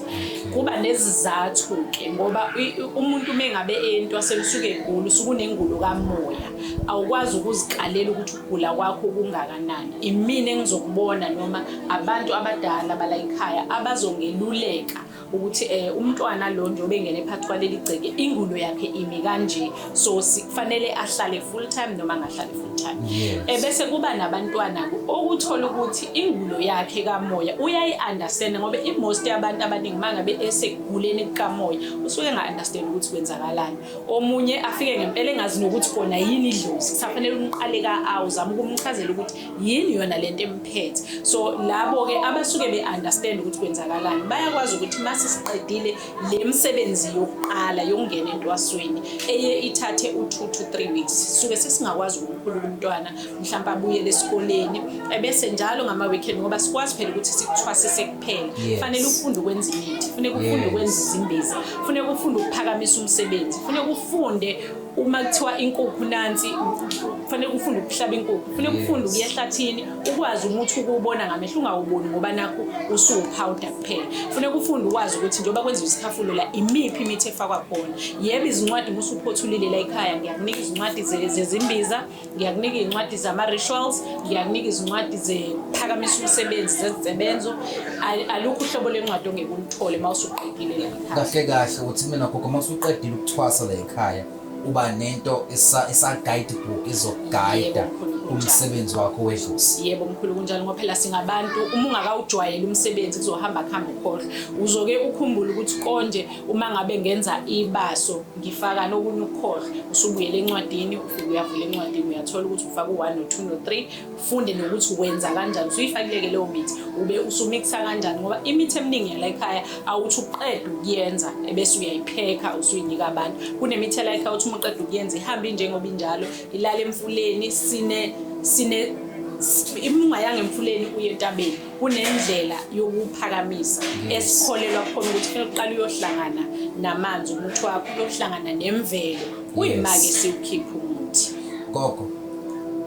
kuba nezizathu-ke ngoba umuntu uma engabe entwaseni usuke egula usuke unengulo kamoya awukwazi ukuzikalela ukuthi ukugula kwakho kungakanani imina engizokubona noma abantu abadala bala ekhaya abazongeluleka ukuthi eh umntwana lo nje obengene phakathi kwaleli gceke ingulo yakhe imi kanje so kufanele ahlale full time noma angahlali full time ebese eh, kuba nabantwana okuthola ukuthi ingulo yakhe kamoya uyayi understand ngoba i most yabantu abaningi mangabe eseguleni kamoya usuke nga understand ukuthi kwenzakalani omunye afike ngempela engazi nokuthi kona yini idlozi kusafanele umqale ka awuzama ukumchazela ukuthi yini yona lento emphethe so labo ke abasuke be understand ukuthi kwenzakalani bayakwazi ukuthi mase siqedile le msebenzi yokuqala yokungena entwasweni eye ithathe u 2 to 3 weeks suke sesingakwazi ukukhulula umntwana mhlawumbe abuye lesikoleni ebese njalo ngama weekend ngoba sikwazi phela ukuthi sikuthwasise kuphela fanele ufunde ukwenza imithi funeka ufunde ukwenza izimbezi funeka ufunde ukuphakamisa umsebenzi funeka ufunde uma kuthiwa inkukhu nansi kufanele ufunde ukuhlaba inkukhu kufanele ufunde ukuya ehlathini ukwazi umuthi ukuwubona ngamehlo ungawuboni ngoba nakho usuwuphawuda kuphela kufanele ufunde ukwazi ukuthi njengoba kwenziwa isikhafulo la imiphi imithi efakwa khona yebo izincwadi uma usuphothulile la ekhaya ngiyakunika izincwadi zezimbiza ngiyakunika izincwadi zama-rituals ngiyakunika izincwadi zephakamisa umsebenzi zezisebenzo alukho uhlobo lwencwadi ongeke ulithole uma usuqedile kahle kahle uthi mina gogo uma usuqedile ukuthwasa la ekhaya uba nento esa-guide book izokugayida umsebenzi wakho wedlozi yebo mkhulu kunjalo ngoba phela singabantu uma ungakawujwayeli umsebenzi kuzohamba kuhambe ukhohlwa uzoke ukhumbule ukuthi konje uma ngabe ngenza ibaso ngifaka nokunye ukukhohlwa usubuyela encwadini ufike uyavula encwadini uyathola ukuthi ufaka u-one no-two no-three ufunde nokuthi wenza kanjani usuyifakileke leyo mithi ube usumikisa kanjani ngoba imithi eminingi yala ekhaya awuthi uqeda ukuyenza ebese uyayiphekha usuyinika abantu kunemithi yala ekhaya uthi uma uqeda ukuyenza ihambe injengoba injalo ilale emfuleni sine sine imungayanga emfuleni uye entabeni kunendlela yokuphakamisa mm. esikholelwa khona ukuthi kufanele uqale uyohlangana namanzi umuthi wakho uyohlangana nemvelo kuyima-ke siwukhiphe umuthi gogo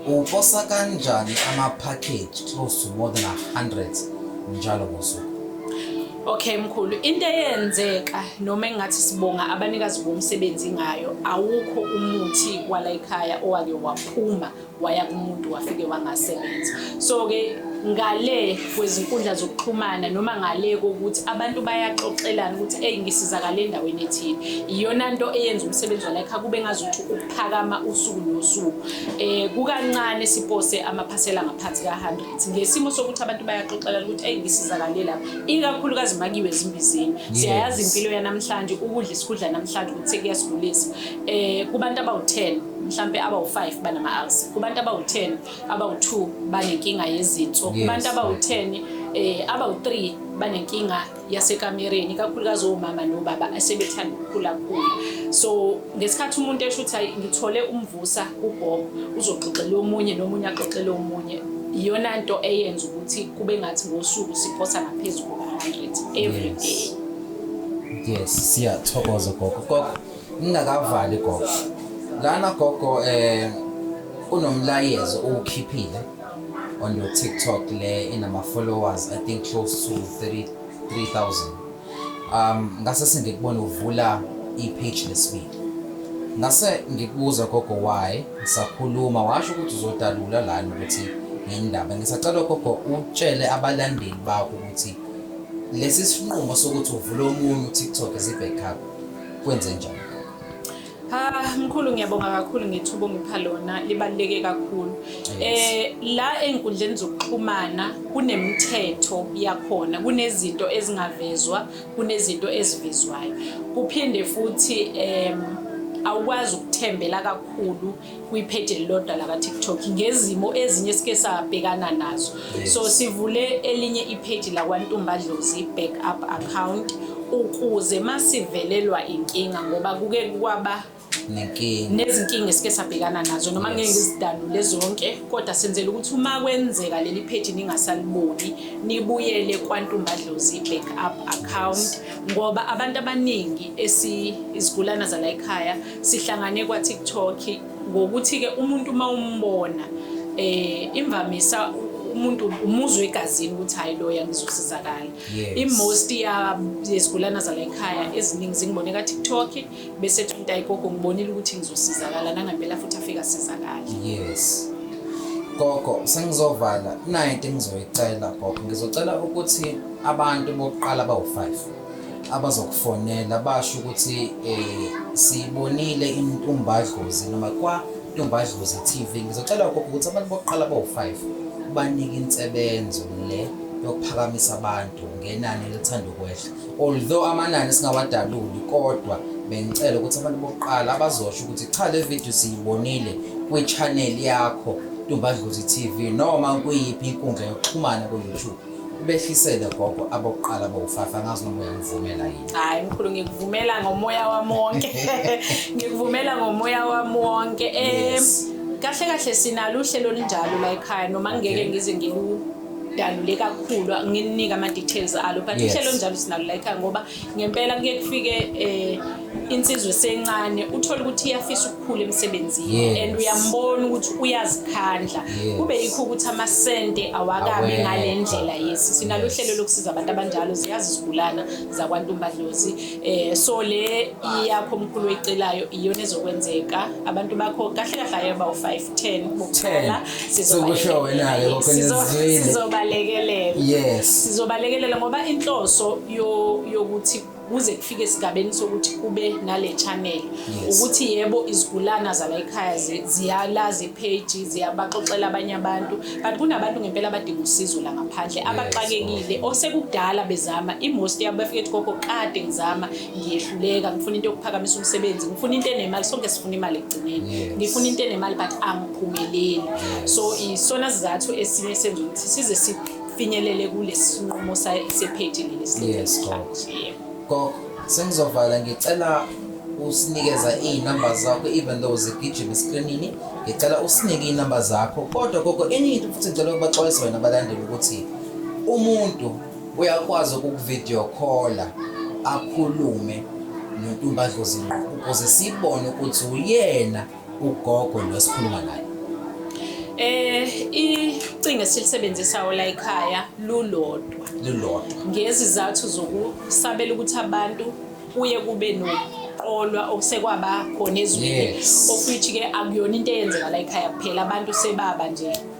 uposa kanjani ama-package close to more than 100 njalo ngosuku Okay mkhulu into eyenzeka noma engathi sibonga abanikazi bomsebenzi ngayo awukho umuthi kwala ekhaya owake waphuma waya kumuntu wafike wangasebenza so ke ngale kwezinkundla zokuxhumana noma ngale kokuthi abantu bayaxoxelana ukuthi eyi ngisizakale endaweni ethile iyona nto eyenza umsebenzi walekha kube ngazuthi ukuphakama usuku nosuku um kukancane sipose amaphasela ngaphansi ka-hundred ngesimo sokuthi abantu bayaxoxelana ukuthi eyi ngisizakale lapha ikakhulukazi makiwe ezimbizini siyayazi impilo yanamhlanje ukudla isikudla namhlanje ukuthi sekuyasigulisa um kubantu abawu-ten mhlampe abawu-5 banama-ulcer kubantu abawu-10 abawu-2 banenkinga yezinso kubantu abawu-10 eh abawu-3 banenkinga yasekamereni kakhulukazi omama nobaba asebethanda ukukhula khulu so ngesikhathi umuntu esho ukuthi hayi ngithole umvusa kugogo uzoxoxela omunye nomunye axoxele omunye iyona nto eyenza ukuthi kube ngathi ngosuku siphosa ngaphezulu kuka-100 every day yes siyathokoza gogo gogo Ngingakavali gogo. Lana gogo eh unomlayezo uwukhiphile on your TikTok le inama followers I think close to 30 3000. Um ngase sengikubona uvula i-page lesibili. Ngase ngikubuza gogo why ngisakhuluma washo ukuthi uzodalula lana ukuthi ngendaba. Ngisacela gogo utshele abalandeli bakho ukuthi lesi sinqumo sokuthi uvule omunye uTikTok is a backup. kwenze njani Ah mkhulu ngiyabonga kakhulu ngethuba ongipha lona libaluleke kakhulu. Eh la enkundleni zokuxhumana kunemithetho yakhona, kunezinto ezingavezwa, kunezinto ezivezwayo. Kuphinde futhi em awukwazi ukuthembela kakhulu kwipheji elilodwa lakaTikTok ngezimo ezinye esike sabhekana nazo so sivule elinye ipheji lakwaNtumbadlozi back up account ukuze masivelelwa inkinga ngoba kuke kwaba nezinkinga esike sabhekana nazo noma ngeke ngizidalule zonke kodwa senzela ukuthi uma kwenzeka leli pheji ningasaliboni nibuyele kwantumbadlozi back up account ngoba abantu abaningi esizigulana zala ekhaya sihlangane kwa-tiktok ngokuthi-ke umuntu uma umbona eh imvamisa umuntu umuzwe egazini ukuthi hayi loya ngizosizakala i-most yezigulana zala ekhaya eziningi zingibone ka-tiktok bese thinta igogo ngibonile ukuthi ngizosizakala nangempela futhi afika sizakala yes gogo sengizovala nayo into engizoyicela gogo ngizocela ukuthi abantu bokuqala bawu-five abazokufonela basho ukuthi um siyibonile intumbadlozi noma kwantumbadlozi TV ngizocela ukho ukuthi abantu bokuqala bawu-five banike insebenzo le yokuphakamisa abantu ngenani elithanda ukwehla although amanani singawadaluli kodwa bengicela ukuthi abantu bokuqala abazosho ukuthi cha le video siyibonile kwi-channel yakho Ntumbadlozi TV noma kuyiphi inkundla yokuxhumana ku-YouTube. Ubehlisele gogo abokuqala bowufafa ngazi noma uyangivumela yini. Hayi mkhulu ngikuvumela ngomoya wami wonke. Ngikuvumela ngomoya wami wonke. Eh kahle kahle sinalo uhlelo olunjalo la ekhaya noma ngeke ngize ngilu dalule kakhulu ngininika ama details alo but uhlelo njalo sinalo la ekhaya ngoba ngempela kuye kufike eh insizwe sencane uthola ukuthi iyafisa ukukhula emsebenzini yes. and uyambona ukuthi uyazikhandla yes. kube yikho ukuthi amasente awakabi ngale ndlela yesi sinalo uhlelo yes. lokusiza abantu abanjalo ziyazi izigulana zakwantumbadlozi eh so le iyakho omkhulu oyicelayo iyona ezokwenzeka abantu bakho kahle kahle ayoba u5 10 bokuqala sizokusho wena ke kokhonizwile sizobalekelela yes sizobalekelela ngoba inhloso yokuthi kuze kufike esigabeni sokuthi kube nale channel ukuthi yebo izigulana zala ekhaya ziyalazi ipage ziyabaxoxela abanye abantu but kunabantu ngempela abadinga usizo la ngaphandle abaxakekile osekudala bezama imost yabo bafike ethi gogo kade ngizama ngiyehluleka ngifuna into yokuphakamisa umsebenzi ngifuna into enemali sonke sifuna imali ekugcineni ngifuna into enemali but angiphumeleli so isona sizathu esinye senza ukuthi size sifinyelele kulesi sinqumo sephethe leli silethi gogo sengizovala ngicela usinikeza iy'namba zakho even though zigijima esikrinini ngicela usinike iy'namba zakho kodwa gogo enye into futhi ngicela ukubaxwayisa wena abalandeli ukuthi umuntu Uyakwazi ukukuvideo call akhulume noNtumbadlozi ngqo ukuze sibone ukuthi uyena ugogo lo sikhuluma naye. Eh icingo esilisebenzisa ola ekhaya lulodwa. Lulodwa. Ngezizathu zokusabela ukuthi abantu kuye kube no ukuqolwa okusekwaba khona ezweni of which ke akuyona into eyenzeka la ekhaya kuphela abantu sebaba nje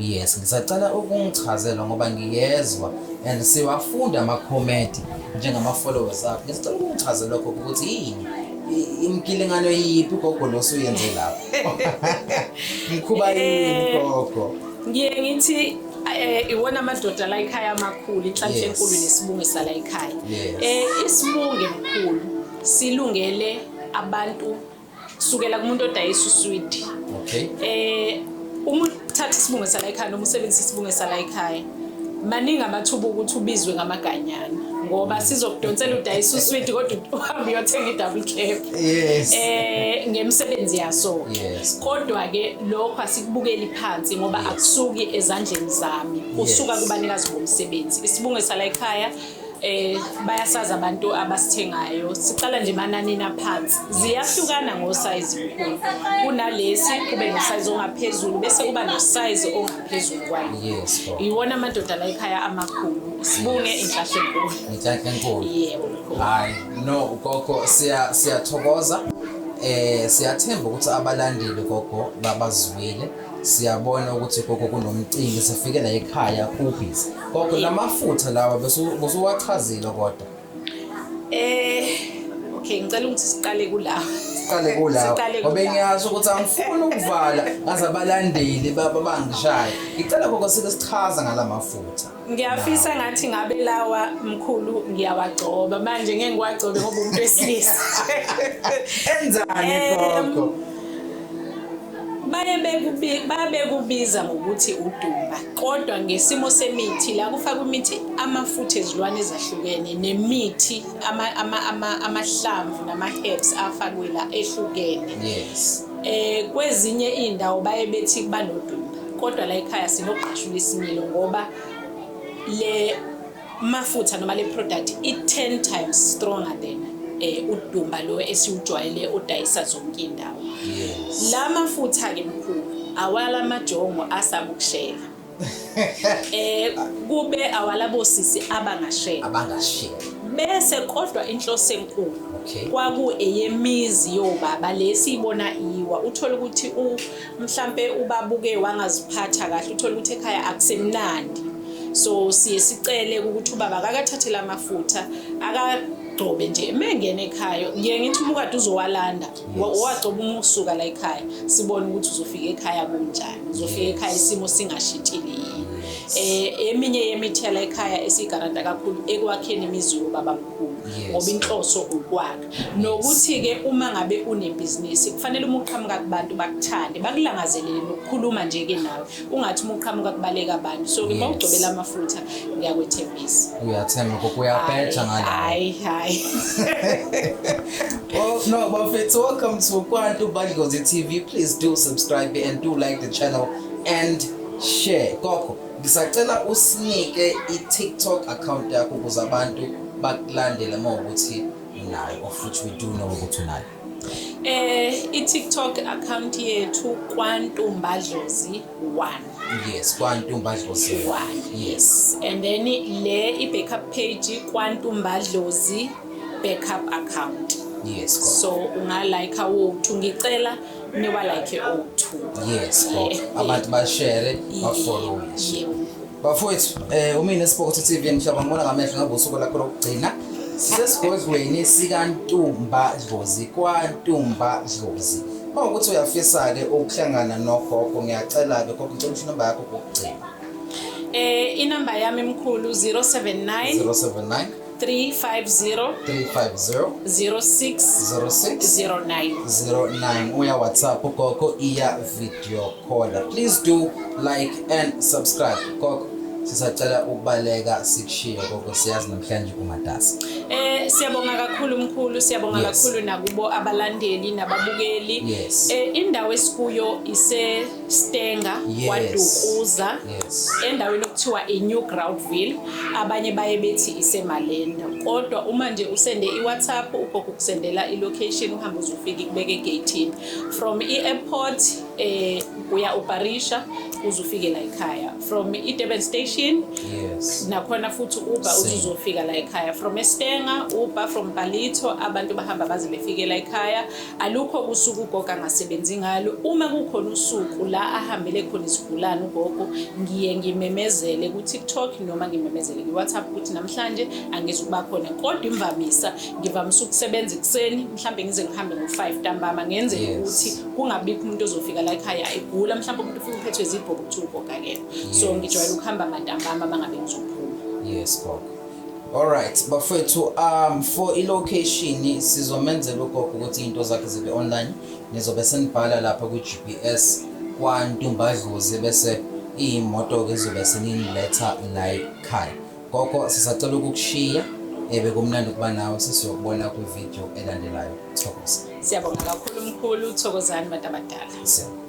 Yes, ngisacela ukungichazela ngoba ngiyezwa and siwafunda amakhomenti njengama-followers akho. Ngisacela ukungichazela lokho ukuthi yini i- imkilingano yiphi gogo nosuyenze lapho. Mkhuba yini gogo? ngiye ngithi eh iwona amadoda la ekhaya amakhulu inhlanhla Yes. enkulu nesibunge sala ekhaya Yes. eh isibunge mkhulu silungele abantu sukela kumuntu odayisa uswidi okay eh uma uthatha isibunge sala ekhaya noma usebenzisa isibunge sala ekhaya maningi amathuba ukuthi ubizwe ngamaganyana ngoba sizokudonsela udayisa uswidi kodwa uhambe uyothenga i-double cap yes. eh ngemisebenzi yaso yes. kodwa-ke lokho asikubukeli phansi ngoba yes. akusuki ezandleni zami usuka yes. kubanikazi bomsebenzi isibunge sala ekhaya eh bayasazi abantu abasithengayo siqala nje mananini aphansi ziyahlukana ngosize kukhulu kunalesi kube nosize ongaphezulu bese kuba nosize ongaphezulu kwayo yes iwona amadoda la ekhaya amakhulu sibunge inhlahla enkulu inhlahla enkulu yebo hayi no gogo siya siyathokoza eh siyathemba ukuthi abalandeli gogo babazwile siyabona ukuthi gogo kunomcimbi sifike la ekhaya kubhizi gogo la mafutha lawa besu- busuwachazile kodwa Eh okay ngicela ukuthi siqale kula. siqale kulawo Siqale ngoba kulawo. ngiyazi ukuthi angifuni ukuvala ngaze abalandeli baba bangishaya ngicela gogo sike sichaza ngala mafutha ngiyafisa ngathi ngabe lawa mkhulu ngiyawagcoba manje ngeke ngiwagcobe ngoba umuntu wesilisa enzani gogo baye bekubiza ngokuthi udumba kodwa ngesimo semithi la kufaka imithi amafutha ezilwane ezahlukene nemithi amahlamvu nama-herbs afakwe la ehlukene yes Eh kwezinye indawo baye bethi kuba nodumba kodwa la ekhaya sinogqashula isimilo ngoba le mafutha noma le product i 10 times stronger than eh udumba lo esiwujwayele odayisa zonke indawo. La mafutha ke mkhulu awala majongo asamukushela. eh kube awalabo sisi abangashela abangashela bese kodwa inhloso enkulu okay. kwaku eyemizi yobaba lesiyibona iwa uthola ukuthi u mhlambe ubabuke wangaziphatha kahle uthola ukuthi ekhaya akusemnandi so siye sicele ukuthi ubaba akakathathela amafutha aka agcobe nje mengene ekhaya ngiye ngithi umukade uzowalanda wagcoba uma ukusuka la ekhaya sibone ukuthi uzofika ekhaya kunjani uzofika ekhaya isimo singashitshile yini um eminye yemithela ekhaya esiyigaranta kakhulu ekwakheni imizi yobaba mkhulu ngoba inhloso ukwakha nokuthi-ke uma ngabe unebhizinisi kufanele uma uqhamuka kubantu bakuthande bakulangazelele nokukhuluma nje-ke nawe ungathi uma uqhamuka kubaleka abantu so ke mawugcobela amafutha ngiyakwethembisa uyathemba koko uyabheja ngale hayi hayi well no bafethu welcome to kwantu badlozi tv please do subscribe and do like the channel and share koko ngisacela usinike i-tiktok account yakho ukuze abantu bakulandele uma ukuthi unayo or futhi we do know ukuthi unayo Eh i-TikTok account yethu kwantumba dlozi 1. Yes, kwantumba dlozi 1. Yes. And then le i-backup page kwantumba dlozi backup account. Yes. Go. So unga like awu ngicela niwa like o2. Yes, go. Abantu ba share, ba follow. Yes. Bafowethu, eh umina Spokotho TV mhlaba ngibona ngamehlo ngabe usuku lakho lokugcina. Sisesigodlweni sikaNtumba Dlozi kwaNtumba Dlozi. Uma ukuthi uyafisa ke ukuhlangana nogogo ngiyacela ke gogo ngicela ukuthi number yakho kokugcina. Eh inamba yami mkhulu 079 079 350 350 06 uya whatsapp gogo iya video caller please do like and subscribe gogo sisacela ukubaleka sikushiye gogo siyazi namhlanje umatasa eh siyabonga kakhulu mkhulu siyabonga yes. kakhulu nakubo abalandeli nababukeli yes. eh indawo esikuyo ise Stenga yes. kwaDukuza yes. endaweni okuthiwa iNew Groundville abanye baye bethi iseMalenda kodwa uma nje usende iWhatsApp ugogo kusendela ilocation uhamba uzofika ikubeke egate from i-airport eh uya uBarisha uzofike la ekhaya from iDurban station yes nakhona futhi uba uzofika la ekhaya from eStenga uba from Palito abantu bahamba baze befike la ekhaya Alukho usuku ugogo angasebenzi ngalo. Uma kukhona usuku la ahambele khona isigulane ugogo, ngiye ngimemezele ku-TikTok noma ngimemezele ku-WhatsApp ukuthi namhlanje angizi ukuba khona. Kodwa imvamisa ngivamise ukusebenza ekuseni, mhlawumbe ngize ngihambe ngo-five ntambama ngenzele ukuthi kungabikho umuntu ozofika la ekhaya egula, mhlawumbe umuntu ufike uphethwe zibhobo kuthiwa ugogo akekho. So ngijwayele ukuhamba mantambama uma ngabe ngizophuma. Yes, gogo. Alright bafethu um for ilocation sizomenzela ugogo ukuthi into zakhe zibe online nizobe senibhala lapha kwi-GPS kwantumbadlozi bese iyimoto ke zobe seniletha la ekhaya gogo sisacela ukukushiya ebe kumnandi ukuba nawe sesiyokubona kwivideo elandelayo thokoza siyabonga kakhulu mkhulu thokozani bantu abadala siyabonga